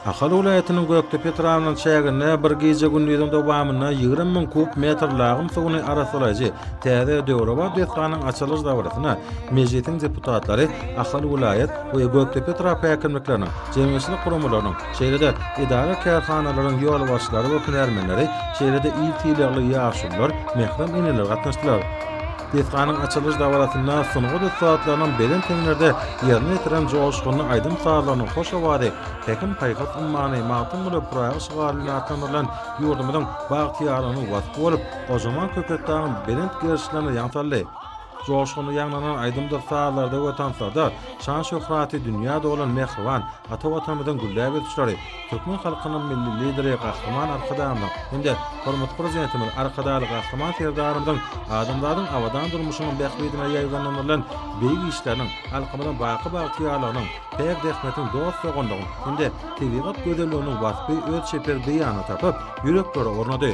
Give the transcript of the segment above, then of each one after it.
Ahal welaýatynyň Gökdepe etrabynyň çäginde bir gije-gündiziň dowamynda ýigrimi müň kub metr lagym suwuny arassalaýjy täze döwrebap desganyň açylyş dabarasyna Mejlisiň deputatlary, Ahal welaýat we Gökdepe etrap häkimlikleriniň, jemgyýetçilik guramalarynyň, şeýle-de edara-kärhanalaryň ýolbaşçylary we hünärmenleri, şeýle-de il sylagly ýaşulular, mährem eneler gatnaşdylar. Desganyň açylyş dabarasynda sungat ussatlarynyň belent heňlerde ýerine ýetiren joşgunly aýdym-sazlarynyň hoş owazy Pähim-paýhas ummany, Magtymguly Pyragy şygary bilen atlandyrylan ýurdumyzyň bagtyýarlygynyň waspy bolup, gojaman Köpetdagyň belent gerişlerine ýaň saldy. Joşgunly ýaňlanan aýdymdyr sazlarda we tanslarda şan-şöhraty dünýä dolan mähriban ata Watanymyzyň gülläp ösüşleri, Türkmen halkynyň Milli Lideri Gahryman Arkadagymyzyň hem-de Hormatly Prezidentimiz Arkadagly Gahryman Serdarymyzyň adamzadyň abadan durmuşynyň bähbidine ýaýbaňlandyrylan beýik işleriniň halkymyzyň baky bagtyýarlygynyň, päk zähmetiň dost-doganlygyň hem-de tebigat gözelliginiň waspy öz çeper beýanyny tapyp, ýüreklere ornady.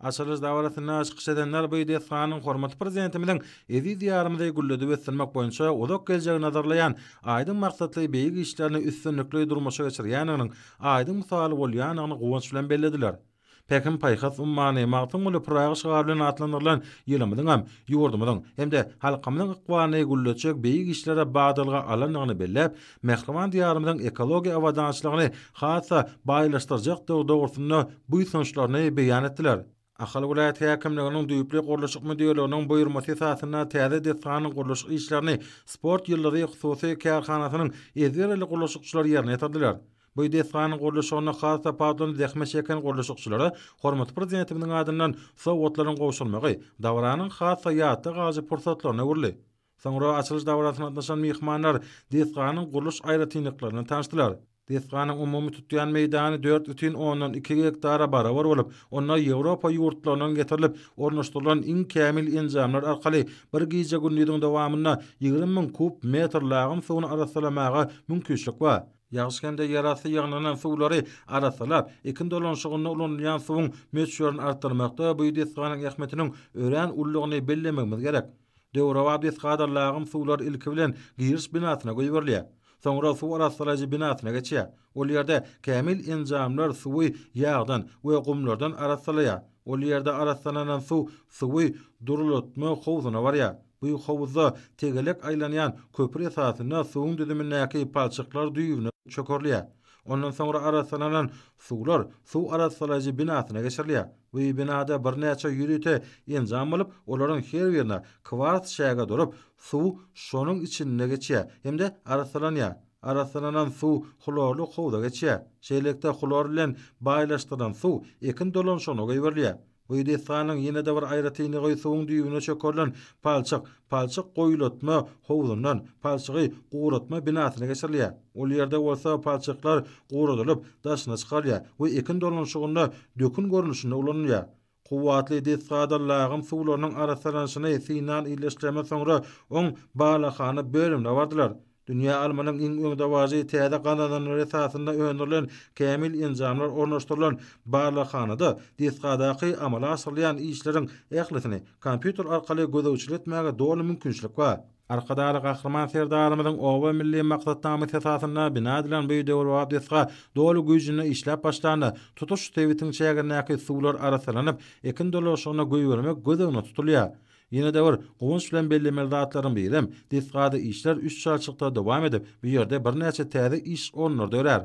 Açylyş dabarasynda çykyş edenler bu desganyň hormatly Prezidentimiziň eziz Diýarymyzy gülledip ösdürmek boýunça uzak geljegi nazarlaýan aýdyň maksatly beýik işlerini üstünlikli durmuşa geçirýändiginiň aýdyň mysaly bolýandygyny guwanç bilen bellediler. Pähim-paýhas ummany Magtymguly Pyragy şygary bilen atlandyrylan ýylymyzyňam ýurdumyzyň hem-de halkymyzyň ykbalyny gülletjek beýik işlere badalga alandygyny belläp, mähriban Diýarymyzyň ekologiýa abadançylygyny has-da baýlaşdyrjakdygy dogrusynda buýsançlaryny beýan etdiler. Ahal welaýat häkimliginiň düýpli gurluşyk müdirliginiň buýurmasy esasynda täze desganyň gurluşyk işlerini Sport ýyldyzy hususy kärhanasynyň ezberli gurluşykçylary ýerine ýetirdiler. Bu desganyň gurluşygynda has tapawutlanyp zähmet çeken gurluşykçylara hormatly Prezidentimiziň adyndan sowgatlaryň gowşurylmagy dabaranyň has-da ýatda galyjy pursatlaryna öwrüldi. Soňra açylyş dabarasyna gatnaşan myhmanlar desganyň gurluş aýratynlyklaryny tanyşdylar. Desganyň umumy tutýan meýdany dört bütin ondan iki gektara barabar bolup, onda Ýewropa ýurtlaryndan getirilip ornaşdyrylan iň kämil enjamlar arkaly bir gije-gündiziň dowamynda ýigrimi müň kub metr lagym suwuny arassalamaga mümkiçlik bar. Ýagyş hem-de ýerasty ýygnanan suwlary arassalap, ekin dolanyşygynda ulanylýan suwuň möçberini artdyrmakda bu desganyň ähmiýetiniň örän uludygyny bellemegimiz gerek. Döwrebap desgadan lagym suwlar ilki bilen giriş binasyna goýberilýär. Soňra suw arassalaýjy binasyna geçýär. Ol ýerde kämil enjamlar suwy ýagdan we gumlardan arassalaýar. Ol ýerde arassalanan suw suwy durulatma howzuna barýar. Bu howuzda tegelek aýlanýan köpür esasynda suwuň düzümindäki palçyklar düýbüne çökerilýär. Ondan soňra arassalanan suwlar suw arassalaýjy binasyna geçirilýär. Bu binada birnäçe ýörite enjam bolup, olaryň her birine kwars çäge durup, suw şonuň içinde geçýär hem-de arassalanýar. Arassalanan suw hlorly howza geçýär. Şeýlelikde, hlor bilen baýlaşdyrylan suw ekin dolanyşygyna goýberilýär. Bu desganyň ýene-de bir aýratynlygy suwuň düýbüne çökerilen palçyk, palçyk goýulatma howzundan palçygy guratma binasyna geçirilýär. Ol ýerde bolsa palçyklar guradylyp, daşyna çykarylýar we ekin dolanyşygynda dökün görnüşinde ulanylýar. Kuwwatly desgadan lagym suwlarynyň arassalanyşyny synan illeşdiremez soňra oň balakhana bölümine bardylar. Dünýä almanyň iň öňdebaryjy täze gazananlary esasynda öndürilen kämil enjamlar ornaşdyrylan barlaghanada desgadaky amala aşyrylýan işleriň ählisini kompýuter arkaly gözegçilik etmäge doly mümkinçilik bar. Arkadagly Gahryman Serdarymyzyň Oba milli maksatnamasy esasynda bina edilen bu döwrebap desga doly güýjünde işläp başlanda, tutuş sebitiň çägindäki suwlar arassalanyp, ekin dolanşygyna goýbermek göz öňünde tutulýar. Ýene-de bir guwanç bilen bellemeli zatlaryň birem, desgada işler üç çalşykda dowam edip, bu ýerde birnäçe täze iş orunlary dörär.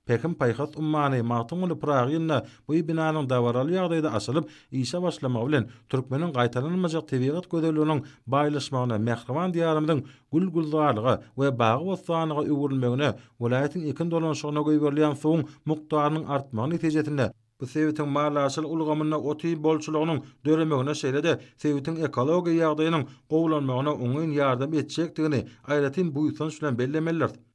Pähim-paýhas ummany Magtymguly Pyragy ýylynda bu binanyň dabaraly ýagdaýda açylyp, işe başlamagy bilen, türkmeniň gaýtalanmajak tebigat gözelliginiň baýlaşmagyna, mähriban Diýarymyzyň gül-gülzarlyga we bagy-bossanlyga öwrülmegine, welaýatyň ekin dolanyşygyna goýberilýän suwuň mukdarynyň artmagy netijesinde, bu sebitiň malhasyl ulgamynda otin bolçulygynyň döremegine, şeýle-de sebitiň ekologiýa ýagdaýynyň gowulanmagyna oňyn ýardam etjekdigini aýratyn buýsanç bilen bellemelidiris.